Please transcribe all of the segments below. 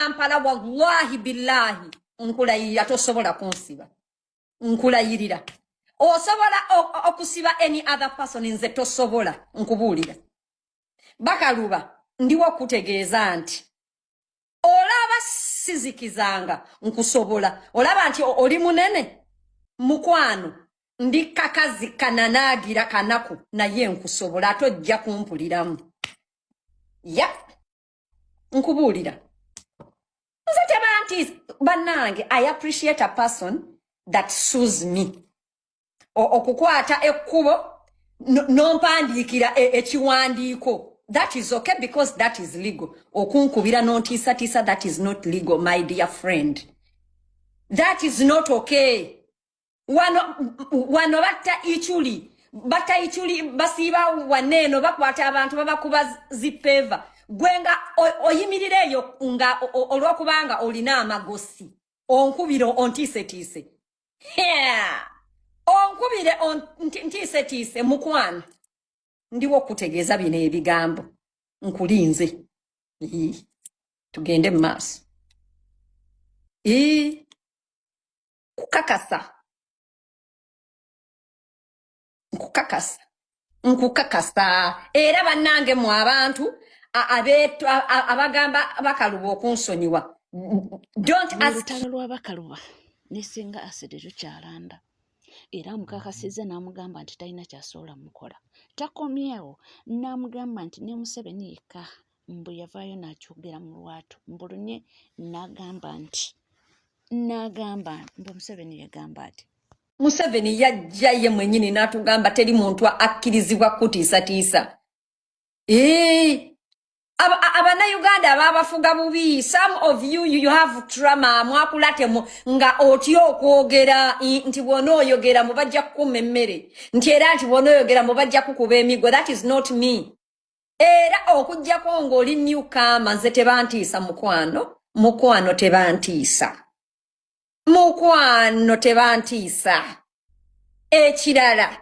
kampala wallahi billahi nkulayirira tosobola kunsiba nkulayirira osobola okusiba any other person nze tosobola nkubuulira bakaluba ndiwo okutegeeza nti olaba sizikizanga nkusobola olaba nti oli munene mukwano ndi kakazi kananaagira kanaku naye nkusobola ate ojja kumpuliramu yep. nkubuulira nze tebanti bannange i appreciate a person that sues me okukwata ekkubo nompandiikira e, ekiwandiiko that is okay because that is legal okunkubira nontiisatiisa that is not legal my dear friend that is not okay wano wano batta ichuli batta ichuli basiiba wanne eno bakwata abantu babakuba zipeva gwe nga oyimirira eyo nga olwokubanga olina amagosi onkubire ontiisetiise onkubire ntiisetiise mukwano ndiwo okutegeeza bino ebigambo nkulinze tugende mu maaso nkukakasa nkukakasa nkukakasa era bannange mu abantu abagamba bakaluba okunsonyiwa olutalo lwabakaluba nesinga asidi lukyalanda era amukakasizza n'amugamba nti talina kyasoola mukola takomyewo n'amugamba nti ne museveni yekka mbu yavaayo n'akyogera mu lwatu mbulunye n'agamba nti n'agamba mbu museveni yagamba ati museveni yajja ye mwenyini n'atugamba teri muntu akkirizibwa kutiisatiisa ee abanayuganda ababafuga bubi some of you you have trama mwakulatemu nga otya okwogera nti bwona oyogera mubajja kukuma emmere nti era nti bwona oyogera mubajja kukuba emigo that is not me era okujjako ng'oli new kama nze tebantiisa mukwano mukwano tebantiisa mukwano tebantiisa ekirala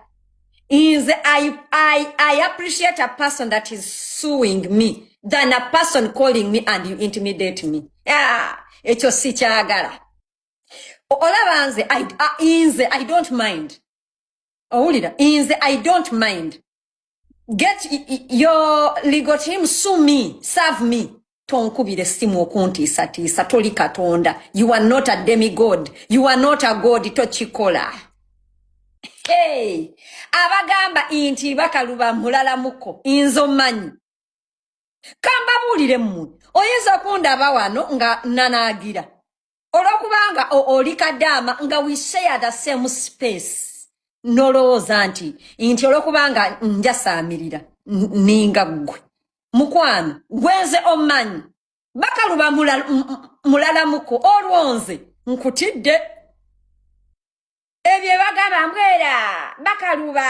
nze I, I, I appreciate a person that is suing me than a person calling me and you intimidate me ah, ekyo sikyagala olaba nze nze i don't mind owulira nze i don't mind get your legal team sue me serve me tonkubira essimu okuntiisatiisa toli katonda you are not a demi god you are not a god tokikola hey. abagamba inti bakaluba mulalamuko inzo manyi kambabuulire mmwe oyinza okundaba wano nga nanagira olwokubanga oli kadaama nga we share the same space nolowooza nti nti olwokubanga njasaamirira ninga ggwe mukwano gwenze omanyi bakaluba mulalamuko olwonze nkutidde ebyo bagamba mbwera bakaluba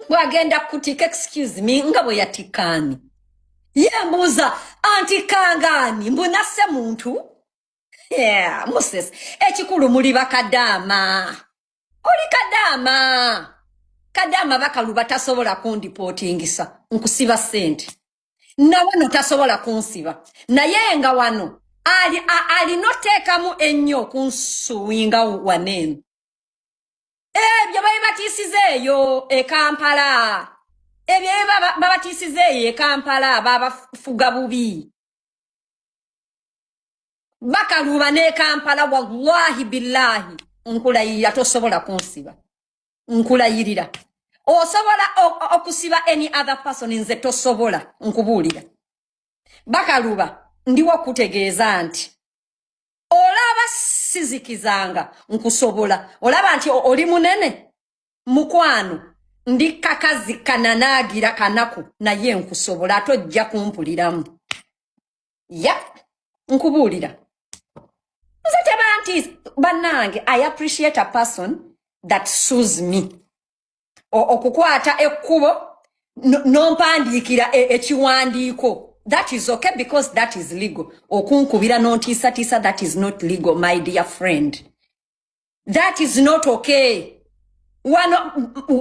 gwe agenda kukutika excuse me nga bwe yatikaani yembuuza antikangaani mbunasse muntu yeah, moses ekikulu muli bakadaama oli kadaama kadaama bakaluba tasobola kundipotingisa nkusiba sente nawano tasobola kunsiba naye nga wano alina oteekamu ennyo okunsuwinga waneeno ebyo babibatiisiza eyo e kampala ebyo ebyo baba- babatiisiza eyo e kampala babafuga bubi bakaluuba n'e kampala wallahi billahi nkulayirira tosobola kunsiba nkulayirira osobola o- o- okusiba any other person nze tosobola nkubuulira bakaluba ndiwo kutegeeza nti olaba sizikizanga nkusobola olaba nti oli munene mukwano ndi kakazi kananaagira kanaku naye nkusobola ate ojja kumpuliramu ya nkubuulira nze tebanti bannange i appreciate a person that sues me okukwata ekkubo nompandiikira e, ekiwandiiko that is okay because that is legal okunkubira nontiisatiisa that is not legal my dear friend that is not okay wano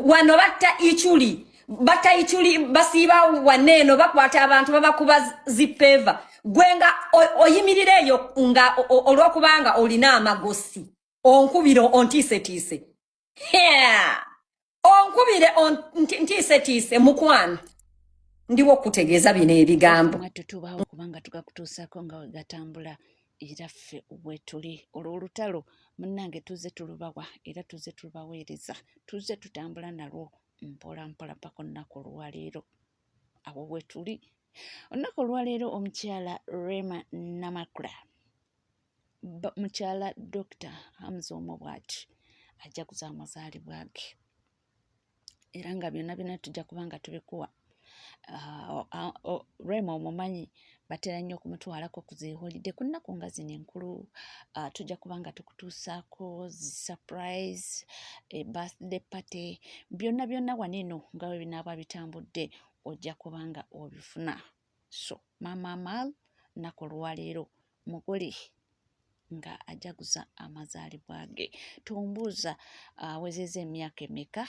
wano batta ichuli batta ichuli basiiba wane eno bakwata abantu babakuba zipeva gwe nga oyimirira eyo nga olwokubanga olina amagosi onkubira ontiisetiise onkubire ntiisetiise mukwano ndiwo okutegeeza bino ebigambo tutubawo kubanga tugakutuusako nga wegatambula era ffe wetuli olwo olutalo munange tuze tulubawa era tuze tulubaweereza tuze tutambula nalwo mpola mpola paka olunaku olwaleero awo wetuli olunaku olwaleero omukyala rema namakula mukyala dokita hamuza omu bwati ajja kuza amazaalibwa ge era nga byonna byona tujja kuba nga tubikuwa ah, ah, oh, rema omumanyi batera nnyo okumutwalako ku zeholide ku nnaku nga zino enkulu ah, tujja kuba nga tukutuusaako zisurprise eh, birthday party byonna byonna waneno nga we binaaba bitambudde ojja kuba nga obifuna so maama Amal nnaku olwaleero mugole nga ajaguza amazaalibwa ge tombuuza awezeza emyaka emeka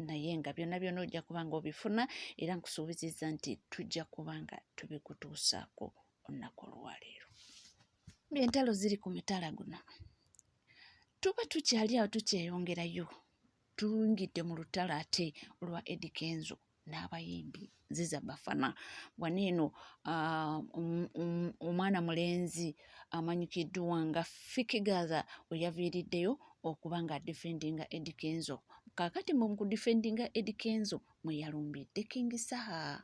naye nga byonna byonna ojja kuba nga obifuna era nkusuubizizza nti tujja kuba nga tubikutuusaako olunaku olwaleero ng'entalo ziri ku mitala guno tuba tukyali awo tukyeyongerayo tuyingidde mu lutalo ate olwa edi kenzo n'abayimbi nziza bafana wano eno ah, um, um, omwana mulenzi amanyikiddwa nga fikigatha weyaviiriddeyo okuba nga defendinga edi kenzo kakati mu kudefendinga edi kenzo mweyalumbidde king saha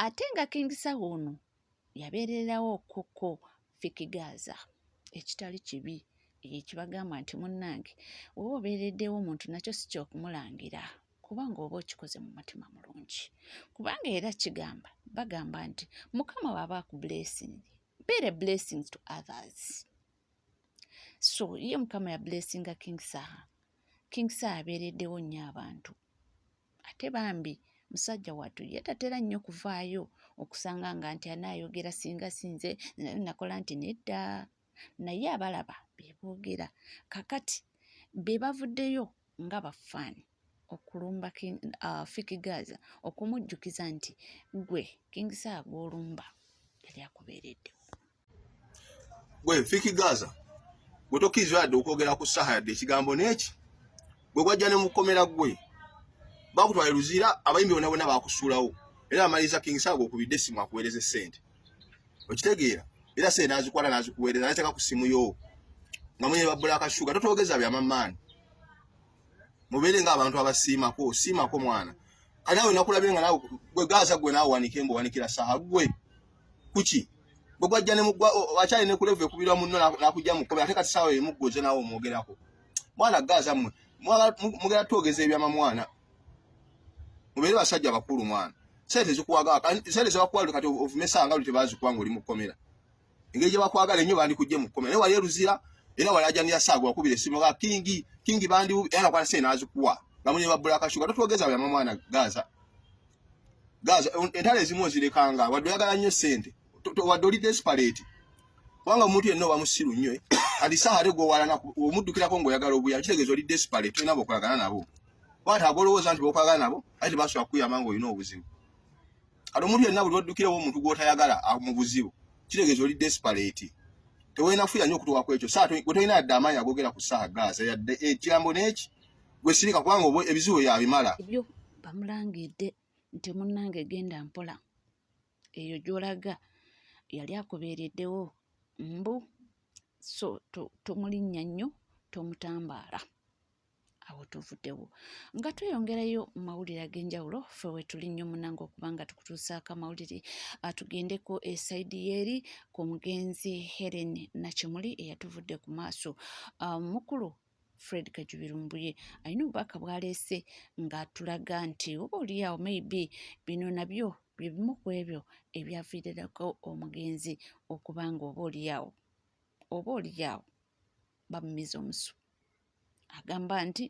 ate nga King Saha ono yabeererawo okukko Fiki Gaaza ekitali kibi ekibagamba nti munnange oba obeereddewo omuntu nakyo si kyokumulangira kubanga oba okikoze mu mutima mulungi kubanga era kigamba bagamba nti mukama waaba aku blessing beere blessings to others so ye mukama ya blessinga king saha king saha abeereddewo nnyo abantu ate bambi musajja wattu ye tatera nnyo kuvaayo okusanga nga nti anaayogera singa sinze nakola nti nedda naye abalaba beboogera kakati be bavuddeyo nga bafaani okulumba uh, fikigaza okumujjukiza nti gwe kingisa agwolumba yali akubeereddewo gwe fiki gaza gwe tokkirizibwa yadde okwogera ku saha yadde ekigambo n'eki gwe gwajja ne mukomera gwe bakutwala luzira abayimbi bona bona bakusuulawo era amaliriza king saga okubidde essimu akuweereza essente okitegeera era sente nazikwala nazikuweereza nateeka ku ssimu yo nga mwenye babbula akashuga totwogeza byamamaani mubeere nga abantu abasiimako osiimako mwana kati nawe nakulabye nga nawe gwe gaza gwe nawe wanika embo wanikira saha gwe kuki bwe gwajja ne mugwa akyali ne kulevu ekubirwa munno nakujja mu kkomera ate kati saawa emu gwoze naawe omwogerako mwana gaaza mmwe mugera twogeza ebyama mwana mubeere basajja bakulu mwana sente zikuwaga sente zebakuwalire kati ovumesa nga lute bazikuwa nga oli mu kkomera engeri gye bakwagala ennyo bandikujje mu kkomera naye wali eruzira era wali ajanira saaga wakubira essimu ga kingi kingi bandi era nakwata sente nazikuwa nga munye babbula akashuka totwogeza byama mwana gaaza gaza entalo ezimu ozirekanga wadde oyagala nnyo sente wadde oli desperate kubanga omuntu yenna oba musiru nnyo eh? kati saha ate gwowalana omuddukirako ngaoyagala obuyambi kitegeeza oli desperate tolina bokolagana nabo wata agolowooza nti bokolagana nabo aye tebasobola kukuyamba nga olina obuzibu kati omuntu yenna buli oddukirawo omuntu gwotayagala ah, mu buzibu kitegeeza oli desperate tewolina kufuya nnyo okutuwa ku ekyo saa gwe tolina yadde amaanyi agogera ku saha gaza yadde ekigambo eh, n'eki gwe sirika kubanga obwo ebizibu yabimala ebyo bamulangidde nti munnange genda mpola eyo gyolaga yali akubeereddewo mbu so tomulinnya to nnyo tomutambaala awo tuvuddewo nga tweyongerayo mu mawulire ag'enjawulo fe wetuli nnyo munanga okuba nga tukutuusaako amawulire atugendeko esaidi yeeri ku mugenzi helen nakimuli eyatuvudde ku maaso ah, mukulu fred kajubi lumbuye alina obubaka bwaleese ng'atulaga nti oba oliyaawo maybe bino nabyo bye bimu ku ebyo ebyaviirirako omugenzi okuba nga oba oliyaawo oba oliyaawo bamumiza omusu agamba nti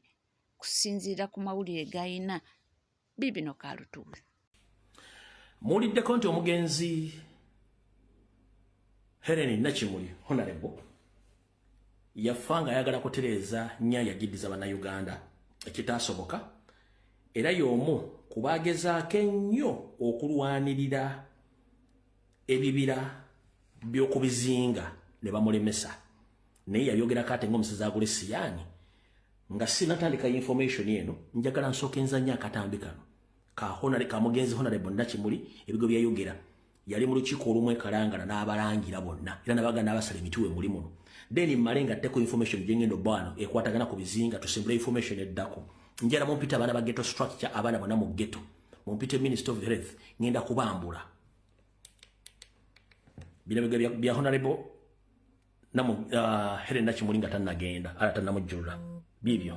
kusinziira ku mawulire g'alina biibino kalutuuzi muwuliddeko nti omugenzi helen nakimuli honarebo yafa nga ayagala kutereeza nya yagiddiza bannayuganda ekitaasoboka era y'omu ku baagezaako ennyo okulwanirira ebibira by'okubizinga ne bamulemesa naye yayogera kate ngomusezi agule siyani nga sinatandika information eno njagala nsooka enzanya akatambi kano kahonale kamugenzi honale bonna kimuli ebigo byayogera yali mu lukiiko olumu ekalangana n'abalangira bonna era nabaga n'abasala emituwe muli muno then mmale nga tteko information gyengenda obbaano ekwatagana ku bizinga tusimbula information eddako njala mumpita abaana ba geto structure abaana bona mu geto mumpite minister of health ngenda kubambula bino bya honorable namu uh, helen nakimuli nga tanagenda ala tanamujjulula bibyo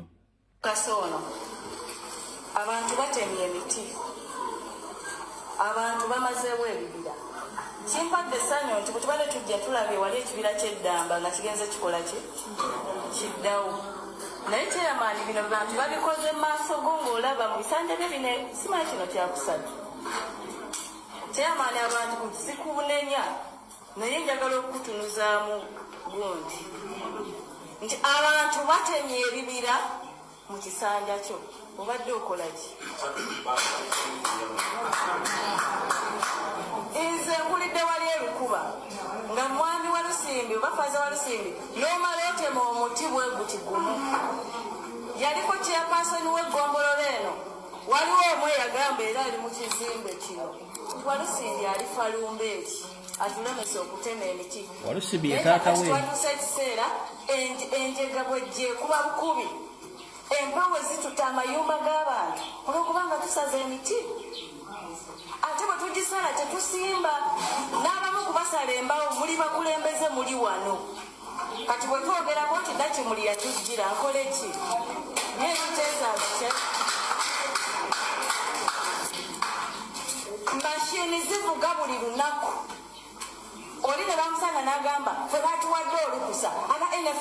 kasono abantu batemye emiti abantu bamazeewo ebibira kimpadde essanyu nti bwetubadde tujja tulabye wali ekibira kyeddamba nga kigenze kikola kye kiddawo naye kyeyamaani bino bantu babikoze mu maaso go ngaolaba mu bisanja bye bine simanyi kino kyakusatu kyeyamaani abantu kusikunenya Naye njagala okukutunuzaamu gundi nti abantu batemye ebibira mu kisanja kyo obadde okolaki? Nze nkulidde wali erukuba nga mwami wa Lusimbi oba faza wa Lusimbi n'omala otema omuti bwe guti gumu. Yaliko chairperson w'eggombolola eno waliwo omu eyagamba era ali mu kizimbe kino. walusimbi alifa lumbeeki atulemesa okutema emiti walusimbi ye taata we twatusa ekiseera enjega bwejje kuba bukubi empawe zituta amayumba g'abantu olwokuba nga tusaza emiti ate bwe tugisala tetusimba n'abamu kubasala embawo muli bakulembeze muli wano kati bwe twogerako nti nakimuli yatujjira nkole ki naye kiteesaakye mashini zivuga buli lunaku oli ne bamusanga n'agamba fe batuwadde olukusa aba nf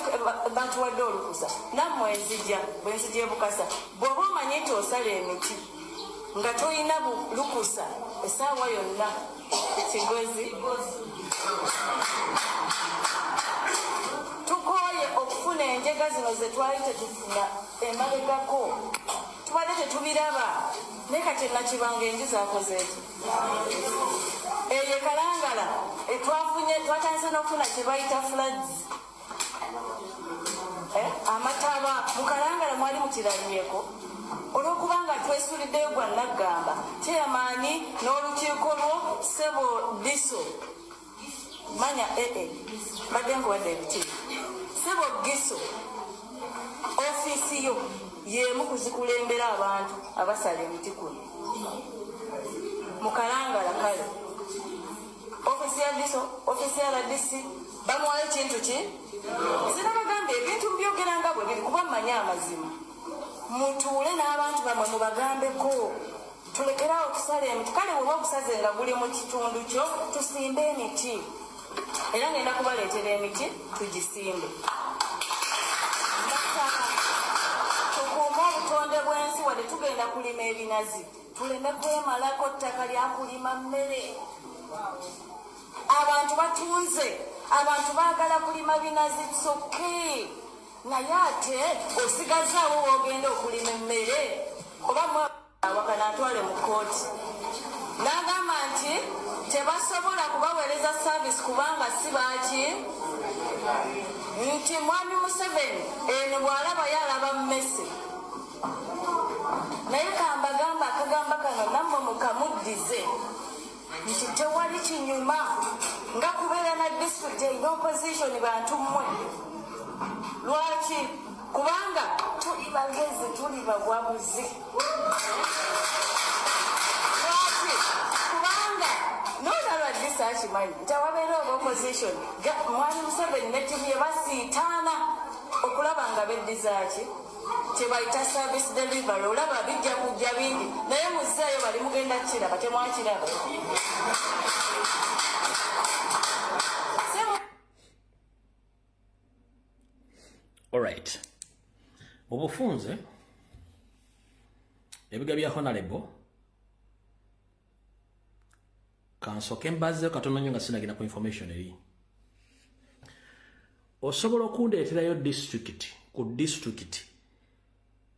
batuwadde olukusa nammwe enzija bwe nzija ebukasa bw'oba omanye nti osala emiti nga tolina lukusa esaawa yonna Kigozi. Tukooye okufuna enjega zino ze twali tetufuna emabegako tubadde tetubiraba naye kati nakibanga enju zakoze eki eyo ekalangala etwafunye twatandise n'okufuna kye bayita floods eh, amataba mukalangala mwali mukiranyeko olwokubanga twesuliddeyo gwa naggamba kyeyamaanyi n'olukiiko lwo sebo diso manya ee eh, eh, mbadde nkuwadde ebiti sebo giso ofiisi yo yemu kuzikulembera abantu abasala emiti kuno mukalangala kale ofisi ya viso ofisi ya rdc bamuwayo ekintu ki sinabagambye ebintu mubyogera nga bwe biri kuba mmanyi amazima mutuule n'abantu bamwe mubagambeko tulekerawo okusala emiti kale weba okusaze nga guli mu kitundu kyo tusimbe emiti era ngenda kubaleetera emiti tugisimbe tukuume obutonde bw'ensi wadde tugenda kulima ebinazi tuleme kwemalako ttaka lyakulima mmere abantu batunze abantu baagala kulima binazi soke naye ate osigazaawo wogenda okulima emmere oba mwawakana atwale mu kooti n'agamba nti tebasobola kubaweereza saavisi kubanga si baaki nti mwami museveni eno bw'alabayo alaba mmese naye kambagamba akagamba kano nammwe mukamuddize nti tewali kinyuma nga kubeera na disitulikiti erina opozisioni bantu mmwe lwaki kubanga tuli bagezi tuli bawabuzi lwaki kubanga nolaba disa akimanyi nti awabeera oba opozisioni mwali museveni ne timu ye basiitaana okulaba nga beddizaki kyebayita service delivery olaba bijja kujja bingi naye muzeeyo bali mugenda kukiraba temwakiraba alright obufunze ebiga bya honalebo kansoke mbazeyo katono nyo nga sinagenda ku information eri osobola okundeeterayo district ku district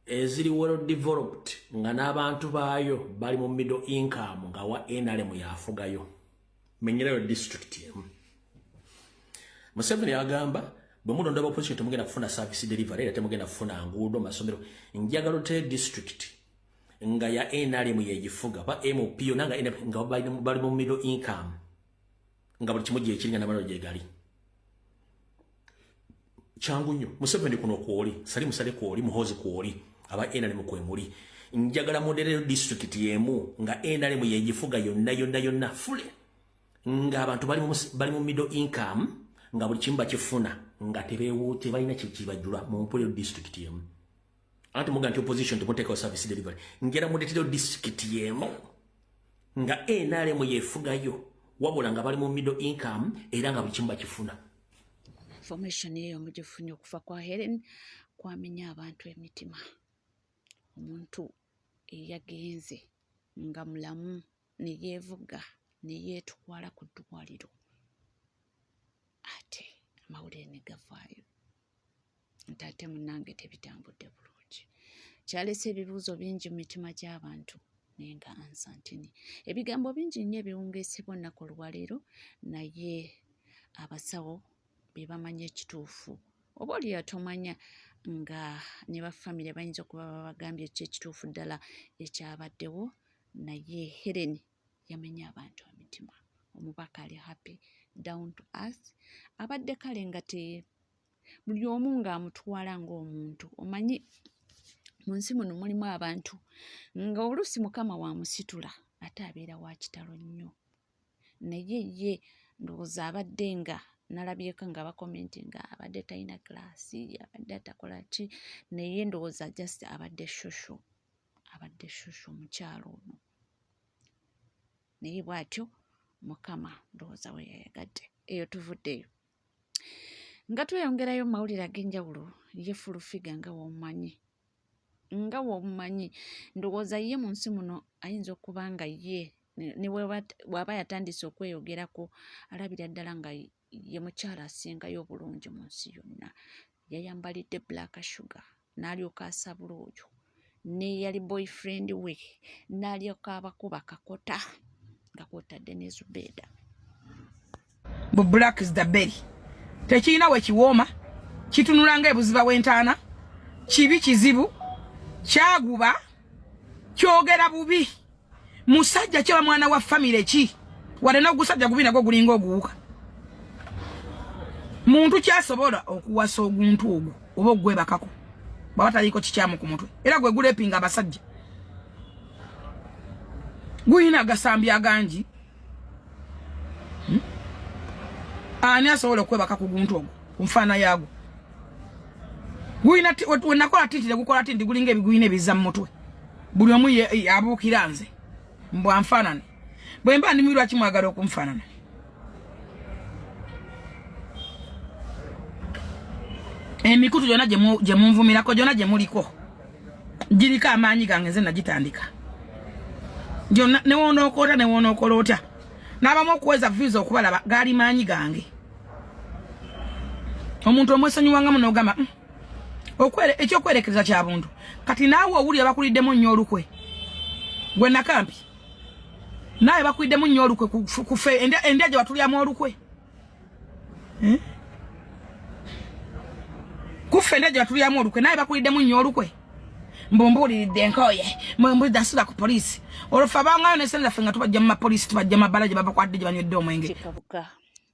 eziri well developed nga n'abantu baayo bali mu middle income nga wa nrm yafugayo menyerayo district emu museveni agamba bwe mulonda ba opposition temugenda kufuna service delivery era temugenda kufuna nguudo masomero njagala oteyo district nga ya nrm yegifuga ba mp yona nga nrm nga bali mu middle income nga buli kimu gyekiringa namalalo gyegali kyangu nnyo museveni kuno kwoli sali musale kwoli muhozi kwoli aba nrm kwemuli njagala muderero district yemu nga nrm yegifuga yonna yonna yonna fule nga abantu bali mu middle income nga buli kimu bakifuna nga tebalina kyekibajula mu mpuliro district yemu anti muga nti opposition temuteekawo service delivery ngera muleterewo district yeemu nga nrm yefugayo wabula nga bali mu middle income era nga buli kimu bakifuna information eyo mugifunye okuva kwa helen kwamenya abantu emitima omuntu eyagenze nga mulamu ne yeevuga ne yeetwala ku ddwaliro ate amawulire ne gavaayo nti ate munnange tebitambudde bulungi kyalese ebibuuzo bingi mu mitima gy'abantu naye nga ansa ntini ebigambo bingi nnyo ebiwungeesebwa olunaku olwaleero naye abasawo be bamanyi ekituufu oba oli yatomanya nga ne bafamire bayinza okuba babagambye ki ekituufu ddala ekyabaddewo naye helen yamenya abantu emitima omubaka ali happy down to us abadde kale nga te buli omu ng'amutwala ng'omuntu omanyi mu nsi muno mulimu abantu nga oluusi mukama wamusitula ate abeera wa kitalo nnyo naye ye ndowooza abadde nga nalabyeko nga bakomenti nga abadde talina kilasi abadde atakola ki naye ndowooza just abadde shosho abadde shushu omukyalo ono naye bwatyo mukama ndowooza we yayagadde eyo tuvuddeyo nga tweyongerayo mu mawulire ag'enjawulo ye fulufiga nga womumanyi nga womumanyi ndowooza ye mu nsi muno ayinza okuba nga ye ne bwaba yatandise okweyogerako alabira ddala nga ye mukyala asingayo obulungi mu nsi yonna yayambalidde black sugar n'alyoka asabula oyo neyali boyfriend we n'alyoka abakuba kakota nga kwotadde ne zubeeda bu black is the berry tekirina we kiwooma kitunula nga ebuziba w'entaana kibi kizibu kyaguba kyogera bubi musajja kyaba mwana wa family ki wale no gusajja gubina go gulingo guuka muntu kyasobola okuwasa oguntu ogwo oba ogwebakako baba taliko kikyamu ku mutwe era gwe gulepinga abasajja guyina agasambi agangi hmm? ani asobola okwebaka ku guntu ogwo ku nfaana yagwo guyina wenakola tinti tegukola tinti gulinga ebiguyina ebiza mu mutwe buli omu abuukira nze mbu anfaanane bwe mba ndimi lwaki mwagala okunfaanana emikutu gyona gye munvumirako gyona gye muliko giriko amaanyi gange nze nagitandika gyona newoonookola otya newoonookola otya n'abamu okuweza visa okubalaba gaali maanyi gange omuntu omwesonyiwangamu n'ogamba mm, okwere ekyokwerekereza kya buntu kati naawe owulira bakuliddemu nnyo olukwe gwe nakampi naawe bakuliddemu nnyo olukwe kufe endya gye batulyamu olukwe eh? kuffe endya gye batulyamu olukwe naawe bakuliddemu nnyo olukwe mbumbuuliridde nkooye mbumbuuliridde nsula ku poliisi olwofe abangayo nesenerafe nga tubajja mu mapoliisi tubajja mabbala gye babakwadde gye banywedde omwenge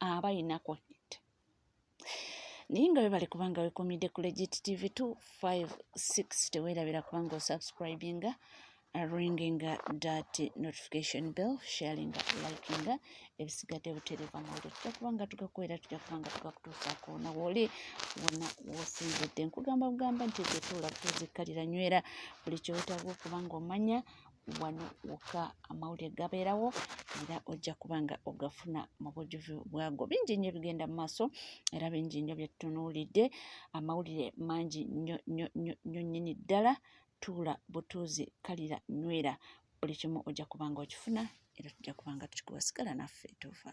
aba alina connect naye nga webale kubanga wekumidde ku legit tv 256 tewerabira kubanga osubscribinga ringing dat notification bell sharing likinga ebisigadde butereeva mawulire tujja kubanga tugakubeera tujja kubanga tugakutuusaako na wooli wona wosinzidde nkugamba bugamba nti zetuula kutuzikkalira nywera buli kyewetaaga okubanga omanya wano wokka amawulire gabeerawo era ojja kuba nga ogafuna mu bujjuvu bwago bingi nnyo bigenda mu maaso era bingi nnyo byetunuulidde amawulire mangi nnyo nnyo nnyo nnyo nnyini ddala tuula butuuzi kalira nywera buli kimu ojja kuba nga okifuna era tujja kuba nga tukikuwa sigala naffe tuva